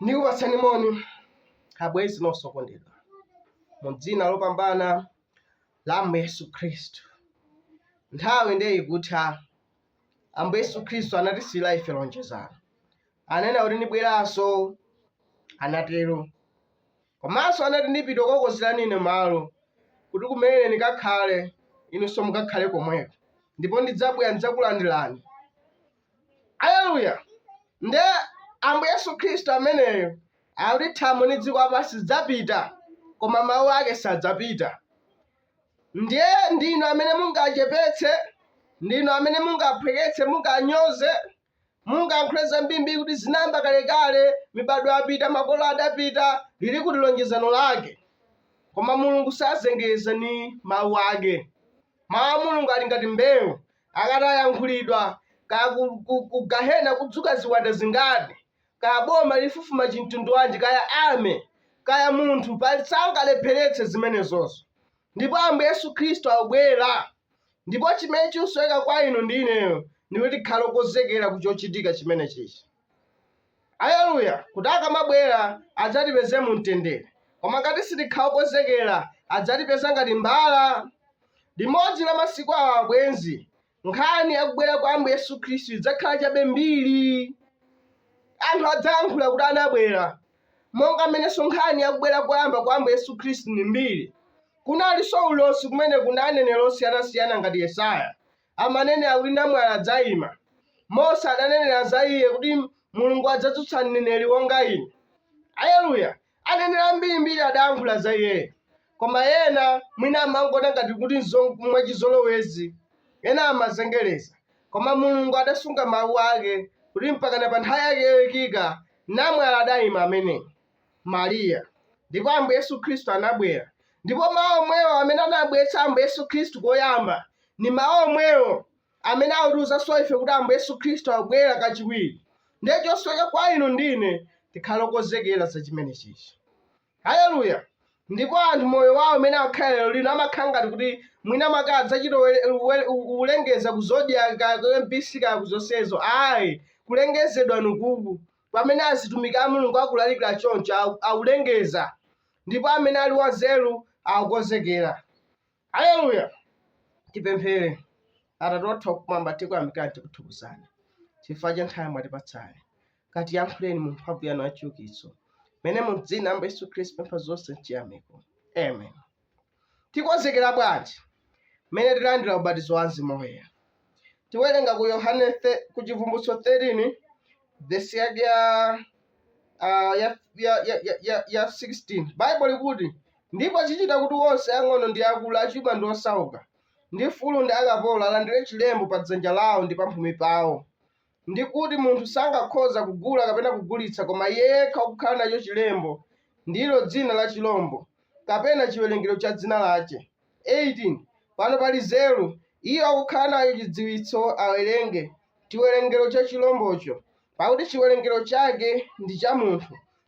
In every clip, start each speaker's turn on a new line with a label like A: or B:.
A: ndikupatsani moni abwenzi nonse okondedwa mu dzina lopambana la ambuye yesu khristu nthawi ndiye ikutha ambuye yesu khristu anatisiyira ife lonjezano ananena kuti ndibweranso anatero komanso anati ndipita kukonzerani ine malo kuti kumene ine ndikakhale inunso mukakhale komweko ndipo ndidzabwera ndidzakulandirani aleluya nde ambuye yesu khristu ameneyo akuti thambo ndi dziko lapansi zidzapita koma mawu ake sadzapita ndiye ndinu amene mungachepetse ndinu amene mungaphweketse munganyoze mungayankhule zambiri kuti zinayamba kalekale mibadwo yapita makolo adapita lili kuti lonjezano lake koma mulungu sazengeza ni mawu ake mawu a mulungu ali ngati mbewu akati ayankhulidwa kaya ku gahena kudzuka ziwanda zingati kaya boma lifufuma chimtundu wanji kaya ame kaya munthu sangalepheretse zimenezozo ndipo ambuye yesu khristu akubwera Ndipo chimene chikusoweka kwa inu ndi ineyo ndi kuti tikhale okonzekera ku chochitika chimenechichi. Aleluya! Kuti akamabwera adzatipeze mu mtendere. Koma ngati sitikhala okonzekera, adzatipeza ngati mbala. Limodzi la masiku awa, abwenzi, nkhani ya kubwera kwa Ambuye Yesu Khristu idzakhala chabe mbiri. Anthu adzayankhula kuti anabwera, monga mmenenso nkhani ya kubwera koyamba kwa Ambuye Yesu Khristu ndi mbiri. Kunalinso ulosi kumene kuna aneneri osiyanasiyana ngati Yesaya amanenera kuti namwali adzaima. Mose adanenera za iye kuti Mulungu adzadzutsa mneneri wonga ine. Aleluya! Aneneri ambirimbiri adayankhula za iye. Koma ena mwina amangoona ngati kuti nzo mwachizolowezi. Ena amazengereza. Koma Mulungu adasunga mawu ake kuti mpakana pa nthawi yake yoikika, namwali adaima ameneyu. Mariya. Ndipo Ambuye Yesu Khristu anabwera. Ndipo mawu omwewo amene anabweretsa Ambuye Yesu Khristu koyamba, ndi mawu omwewo amene akutiwuzanso ife kuti Ambuye Yesu Khristu akubwera kachiwiri. Ndiye chosoweka kwa inu ndi ine tikhale okonzekera za chimenechichi. Haleluya! Ndipo anthu moyo wawo umene akhala lero lino amakhala ngati kuti mwina mwake adzachita kulengeza ku zodiac kaya ku mbc kaya ku zonsezo ayi kulengezedwa nukuku pamene azitumiki a Mulungu akulalikira choncho, au- aulengeza, ndipo amene ali wanzeru akukonzekera. Haleluya! Tipemphere. Atate wathu wakumwamba, tikuyamikani tikuthokozani chifukwa cha nthawi mwatipatsayi. Katiyankhuleni mu mphamvu yanu yachiukitso, mene mu dzina la Ambuye Yesu Khristu pempha zonse mchiyamiko. Amen. Tikonzekera bwanji mmene tilandira ubatizo wa Mzimu Woyera? Tiwerenga ku Yohane the- ku Chivumbulutso 13 vesi yake ya ah, ya ya ya ya- ya ya 16. Baibulo likuti ndipo chichita kuti onse ang'ono ndi akulu, achuma ndi osauka, ndi mfulu ndi akapolo alandire chilembo pa dzanja lawo ndi pamphumi pawo, ndi kuti munthu sangakhoza kugula kapena kugulitsa koma iye yekha wakukhala nacho chilembo, ndilo dzina la chilombo, kapena chiwerengero cha dzina lache. 18 pano pali nzeru, iye wakukhala nacho chidziwitso awerenge, chiwerengero cha chilombocho, pakuti chiwerengero chake ndi cha munthu,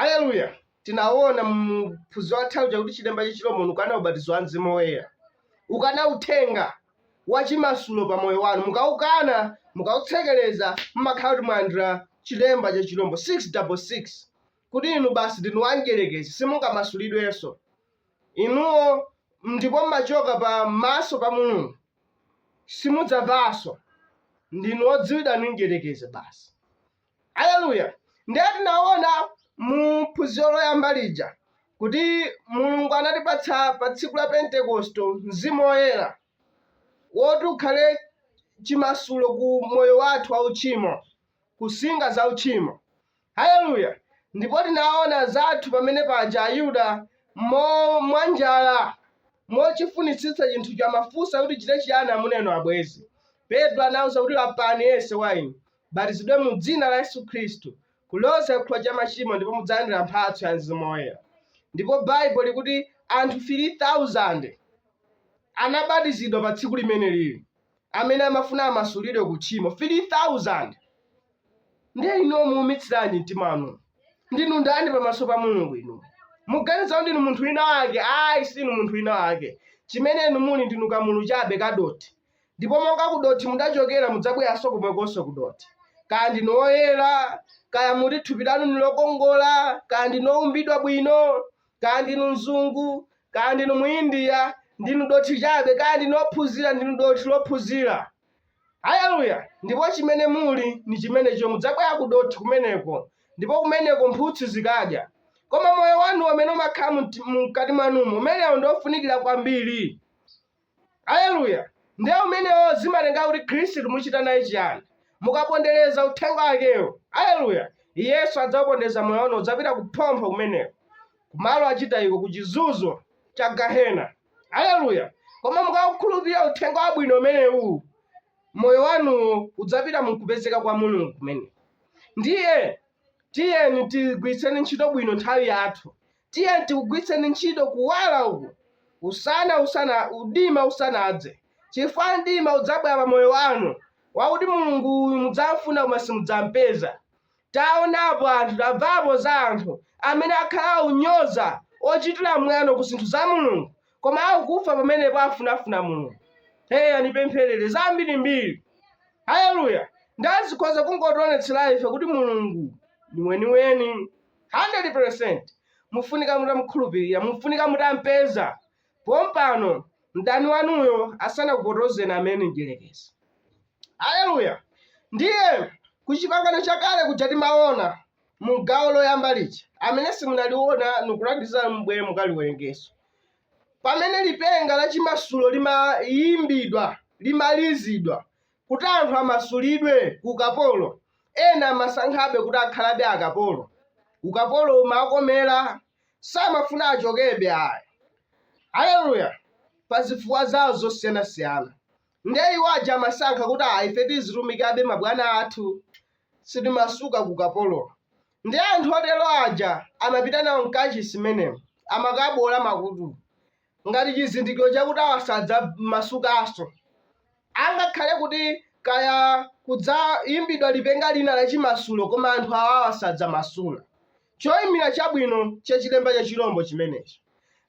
A: Aleluya! Tinawona mu phunziro lathali chakuti chilemba cha chilombo ukana ubatizo wa Mzimu Woyera, ukana uthenga wa chimasulo pa moyo wanu, mukaukana, mukautsekereza, mumakhala kuti mwalandira chilemba cha chirombo 666 kuti inu basi ndinu wamdyerekezi, simungamasulidwenso inuwo, ndipo mmachoka pa maso pa Mulungu, simudzamvanso, ndinu odziwidwa ndi mdyerekezi basi. Aleluya! Ndiye tinaona mu phunziro loyamba lija kuti Mulungu anatipatsa pa tsiku la Pentekoste mzimu woyera woti ukhale chimasulo ku moyo wathu wa uchimo, kunsinga za uchimo. Haleluya! Ndipo tinaona zathu pamene paja Ayuda mo mwanjala mochifunitsitsa chinthu anamufunsa kuti tichite chiyani amuna inu abwenzi. Petro anauza kuti lapani yense wa inu batizidwe mu Dzina la Yesu Khristu kuloza chikhululukiro cha machimo ndipo mudzalandira mphatso ya Mzimu Woyera. Ndipo Baibulo likuti anthu 3,000 anabatizidwa pa tsiku limenelili amene amafuna amasulidwe ku tchimo 3,000. Ndiye inuwo muumitsiranji mtima wanu? Ndinu ndani pamaso pa Mulungu inu? Muganiza kuti ndinu munthu wina wake? Ayi, sinu munthu wina wake. Chimene inu muli ndinu kamulu chabe kadothi. ndipo monga kudothi mudachokera mudzabweranso komwekonso kudothi kaya ndinu oyera kaya muti thupi lanu ndi lokongola kaya ndinu oumbidwa bwino kaya ndinu mzungu kaya ndinu muindiya ndinu dothi chabe kaya ndinu ophunzira ndinu dothi lophunzira haleluya ndipo chimene muli ndi chimenecho mudzabwerera ku dothi kumeneko ndipo kumeneko mphutsi zikadya koma moyo wanu umene umakhala mti- mkati mwanumo umenewo ndi ofunikira kwambiri Aleluya! Ndiye umenewo zimatenga kuti Khristu muchita naye chiyani? Mukapondereza uthenga wakewo. Aleluya! Iyenso adzawupondereza moyo wanuwo udzapita kuphompho kumeneko, kumalo achitayiko, ku chizunzo cha gahena. Aleluya! Koma mukaukhulupirira uthenga wabwino umenewu, moyo wanuwo udzapita mu kupezeka kwa Mulungu kumeneko. Ndiye tiyeni tigwiritseni ntchito bwino nthawi yathu. Tiyeni tikugwiritseni ntchito kuwala uku usana, usana, udima usanadze, chifukwa mdima udzabwera pa moyo wanu, wakuti Mulungu uyu mudzamfuna koma simudzampeza. Taonapo anthu, tamvapo za anthu amene akhala onyoza, ochitira mwano ku zinthu za Mulungu, koma pakufa pamenepo afunafuna Mulungu. Heya, ndipempherere zambirimbiri. Haleluya! Ndazikhoza kungotionetsera ife kuti Mulungu ni weniweni. 100%. Mufunika mutamukhulupirira. Mufunika mutampeza pompano mdani wanuyo asanakupotozeni amene mdyerekezi. Haleluya! Ndiye ku chipangano chakale kuja timaona mu gawo loyamba lija amene simunaliona nikulangizani mbwere mukalionerenso pamene lipenga la chimasulo limayimbidwa limalizidwa Kuti anthu amasulidwe ku ukapolo, ena amasankhabe kuti akhalabe akapolo. Ukapolo umawakomera, samafuna achokebe ayi. Haleluya! Pa zifukwa zawo zosiyanasiyana. Ndiye iwo aja amasankha kuti ayi ife tizitumikabe mabwana athu, sitimasuka ku ukapolo. Ndiye anthu otero aja amapita nawo m'kachisi mmenemo, amakaboola makutu. ngati chizindikiro chakuti awa sadzamasukanso, angakhale kuti kaya kudzayimbidwa lipenga lina la chimasulo, koma anthu awawa sadzamasuka. Choyimira chabwino cha chilemba cha chirombo chimenechi.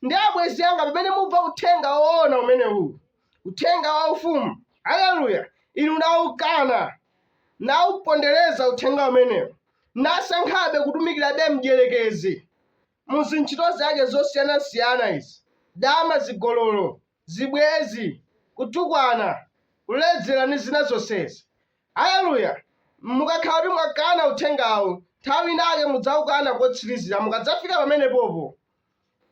A: Ndiye, abwenzi anga, pamene mumva Uthenga woona umenewu, Uthenga wa Ufumu, aleluya, inu nawukana, nawupondereza Uthenga umenewu, nasankhabe kutumikirabe mdierekezi, mu zintchito zake zosiyanasiyana izi, dama, zigololo, zibwenzi, kutukwana, kuledzera, ndi zina zonsezi. Aleluya! Mukakhala kuti mwakana uthengawu, nthawi inake mudzaukana kotsirizira. Mukadzafika pamenepopo,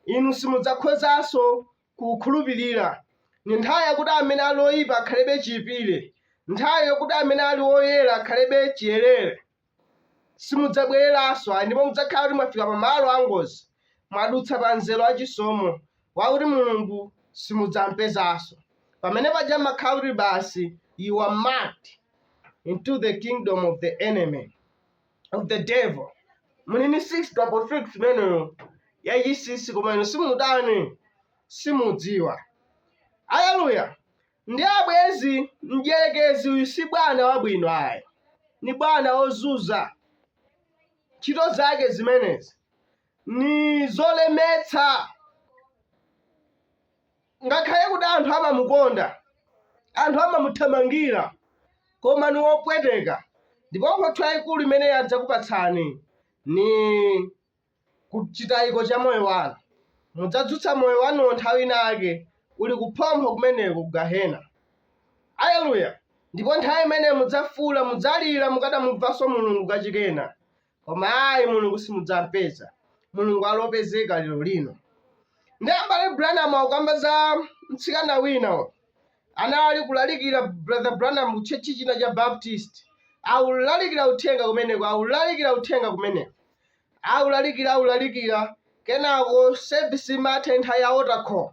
A: inu simudzakhozanso kuukhulupirira. Ndi nthawi yakuti amene ali oyipa akhalebe chiyipire, nthawi yokuti amene ali oyera akhalebe chiyerere. Simudzabwereranso, ndipo mudzakhala kuti mwafika pa malo a ngozi, mwadutsa pa mzere wa chisomo, wakuti Mulungu simudzampezanso. Pamene paja mmakhala kuti basi, you are marked into the kingdom of the enemy, of the devil. Muli ni 6 double 6 imeneyo yachisisi, koma inu simutani, simudziwa. Haleluya! Nde abwenzi mdyerekezi uyu si bwana wabwino ayi. Ni bwana ozunza. Ntchito zake zimenezi ni zolemetsa. Ngakhale kuti anthu amamukonda, anthu amamuthamangira, koma ni wopweteka ndipo mphotho yaikulu imene adzakupatsani ni ku chitayiko cha moyo wanu. Mudzadzutsa moyo wanuwo nthawi inake uli kuphompho kumeneko ku gehena. Aleluya! Ndipo nthawi imene mudzafuula, mudzalira mukadamumvanso Mulungu kachikena. Koma ayi, Mulungu simudzampeza. Mulungu ali opezeka lero lino. Ndi M'bale Branham akukamba za mtsikana wina anali kulalikira Brother Branham ku tchechi china cha Baptist. Aulalikira uthenga kumeneko, aulalikira uthenga kumeneko. aulalikira aulalikira kenako service imatha nthawi ya altar call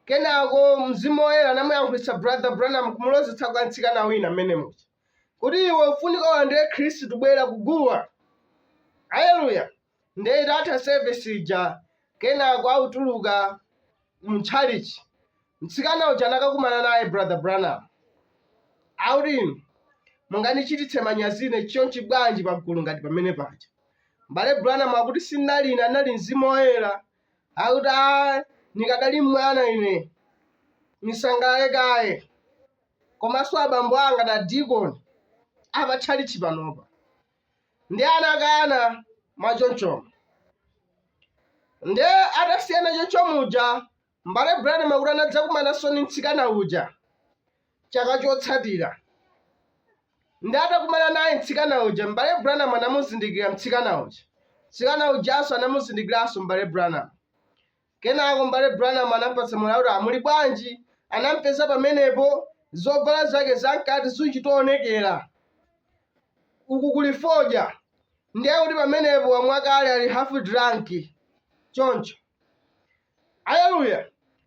A: kenako mzimu woyera anamuyankhulitsa brother branham kumulozetsa kwa mtsikana wina mmene muja kuti iwe ufunika ulandire khristu bwera kuguwa haleluya ndiye itatha service ija kenako autuluka mtchalichi mtsikana uja anakakumana naye brother branham auti inu mungandichititse manyazi ine chonchi bwanji pagulu ngati pamene paja mbale branham akuti sinali ine anali mzimu woyera akuti a nikadali mwana ine nisangalale kaye komanso abambo anga na dikoni apa tchalichi panopa nde anakana mwachonchomo nde atasiyana choncho muja mbale branham akuti anadzakumananso ndi mtsikana uja chaka chotsatira nde atakumana naye mtsikana uja mbale branham anamuzindikira mtsikana uja mtsikana ujanso anamuzindikiranso mbale branham Kenako M'bale Branham anamupatsa moni kuti amuli bwanji, anamupeza pamenepo, zovala zake zamkati zichitoonekera. Uku kuli fodya. Ndiye kuti pamenepo wamwa kale ali half drunk. Choncho. Aleluya!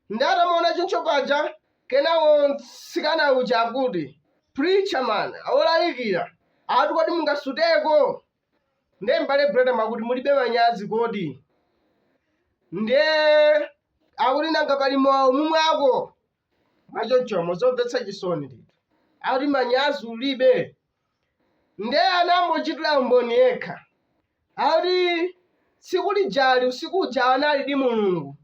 A: Ndiye atamuona choncho paja, kenako mtsikana uja akuti, Preacher man, awolalikira, ati kodi mungasuteko? Ndiye m'bale Branham akuti mulibe manyazi kodi? Ndiye akuti nanga pali mowa mumwako? Mwachonchomo zomvetsa chisoni ndithu. Akuti manyazi ulibe. Ndiye anambochitira umboni yekha. Akuti tsiku lijali usiku uja analidi Mulungu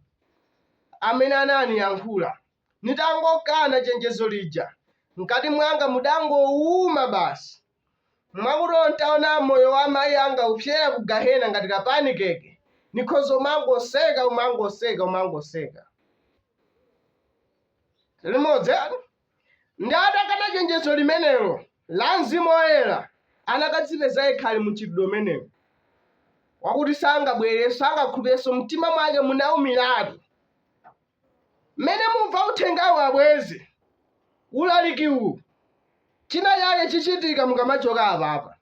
A: amene ananiyankhula. Nitangokana chenjezo lija, mkati mwanga mudangowuma basi. mwakuti olo ntaona moyo wa amayi anga kupyera ku gahena ngati ka pancake nikhoza umangoseka umangoseka umangoseka limodzi ndiye atakana chenjezo limenelo la mzimu woyera anakadzipeza yekha ali mu mchitidwe umenewo wakuti sangabwerenso sangakhulupirenso mtima mwake munaumiratu Mmene mumva uthengawu abwenzi, ulaliki uwu, china chake chichitika mukamachoka apapa.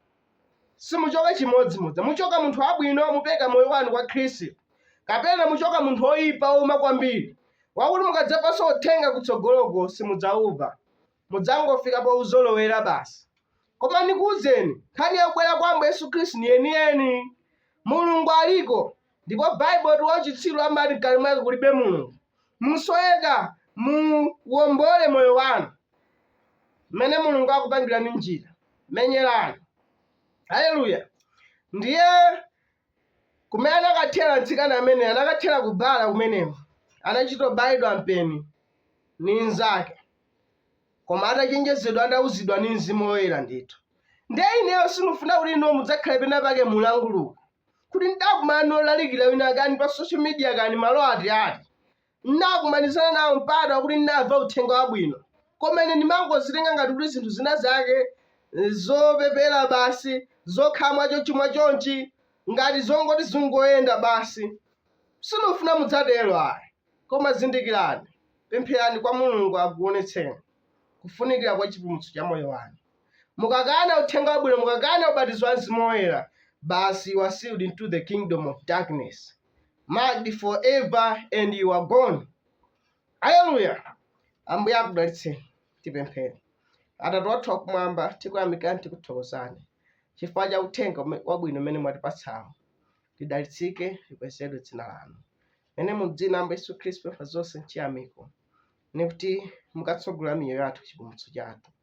A: Simuchoka chimodzimodzi. Muchoka munthu wabwino, mupereka moyo wanu kwa Khristu, kapena muchoka munthu oyipa ouma kwambiri, wakuti mukadzamvanso uthenga kutsogoloko simudzaumva. Mudzangofika pouzolowera basi. Koma ndikuuzeni, nkhani ya kubwera kwa Ambuye Yesu Khristu ni yeniyeni. Mulungu aliko, Ndipo Bible likuti wauchitsiru amati mkati mwake kulibe Mulungu. Musoweka muwombole moyo wanu. Mmene Mulungu akupangirani njira. Menyerani. Hallelujah. Ndiye kumene anakathera mtsikana amene anakathera ku bar kumeneko anachitobayidwa mpeni ni nzake koma atachenjezedwa atauzidwa ni mzimu woyera ndithu ndiye ineyo sindikufuna kuti inu mudzakhale pena pake mulanguluka kuti ndidakumana ndi olalikira wina kani pa social media kani malo ati ati ndidakumanizana nawo mpata wakuti ndinamva uthenga wabwino koma ine ndimangozitenga ngati kuti zinthu zina zake eh, zopepera basi zokhala mwachonchi mwachonchi ngati zongoti zingoyenda basi sindikufuna mudzatero ayi koma zindikirani pempherani kwa mulungu akuonetseni kufunikira kwa chipulumutso cha moyo wanu mukakana uthenga wabwino, mukakana ubatizo wa mzimu woyera, basi you are sealed into the kingdom of darkness marked forever and you are gone. Haleluya, Ambuye akudalitseni. Tipemphere. Atate wathu wakumwamba, tikuyamikani tikuthokozani chifukwa cha uthenga ume- wabwino umene mwatipatsawo. Lidalitsike likwezedwe dzina lanu. Umene mu dzina la Yesu Khristu pempha zonse nchiyamiko, nikuti mukatsogolera miyoyo yathu chipulumutso chathu.